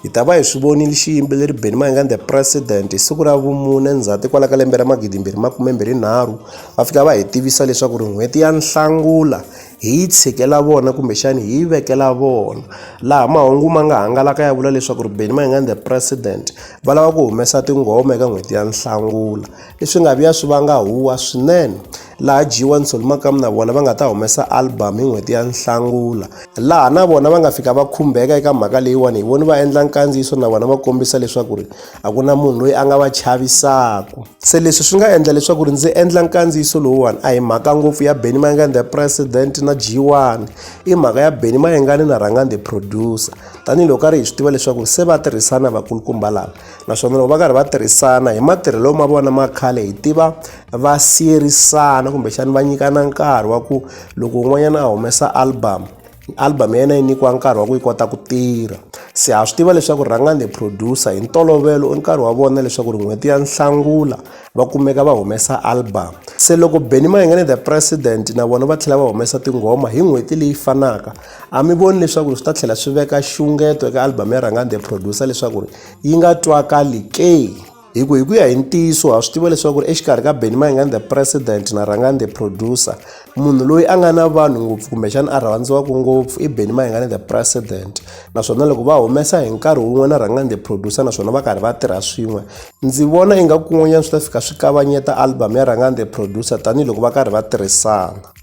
Hi ta va hi swi vonile xiyimbeleri Benny Mayengani The President hi siku ra vumune Ndzhati kwala ka lembe ra magidi mbirhi makume mbirhi nharhu va fika va hi tivisa leswaku ri n'hweti ya Nhlangula hi yi tshikela vona kumbexani hi yi vekela vona laha mahungu ma nga hangalaka ya vula leswaku ri Benny Mayengani The President va lava ku humesa tinghoma eka n'hweti ya Nhlangula. leswi nga vuya swi vanga huwa swinene laha jiwa ni solomakamu na vona va nga ta humesa album hi n'hweti ya nhlangula laha na vona va nga fika va khumbeka eka mhaka leyiwani hi voni va endla nkandziyiso na vona va kombisa leswaku ri a ku na munhu loyi a nga va chavisaku se leswi swi nga endla leswaku ri ndzi endla nkandziyiso lowuwani a hi mhaka ngopfu ya benny mayengani the president na jiwani i mhaka ya benny mayengani na rhangani the producer tanihiloko a ri hi swi tiva leswaku se va tirhisana vakulukumba lava naswona loko va karhi va tirhisana hi matirhelo ma vona ma khale hi tiva va siyerisana kumbexani va nyikana nkarhi wa ku loko un'wanyana a humesa album album ya yena yi nyikiwa nkarhi wa ku yi kota ku tirha se ha swi tiva leswaku rhangani the producer hi ntolovelo i nkarhi wa vona leswaku ri n'hweti ya nhlangula va kumeka va humesa album se loko benny mayengane the president na vona va tlhela va humesa tinghoma hi n'hweti leyi fanaka A mi voni leswaku swi ta tlhela swi veka xungeto eka album ya Rhangani the Producer leswaku yi nga twakali ke? Hi ku hi ku ya hi ntiyiso ha swi tiva leswaku exikarhi ka Benny Mayengani the President na Rhangani the Producer, munhu loyi a nga na vanhu ngopfu kumbexana a rhandziwaka ngopfu i Benny Mayengani the President. Naswona loko va humesa hi nkarhi wun'we na Rhangani the Producer naswona va karhi va tirha swin'we, ndzi vona ingaku kun'wanyana swi ta fika swi kavanyeta album ya Rhangani the Producer tanihiloko va karhi va tirhisana.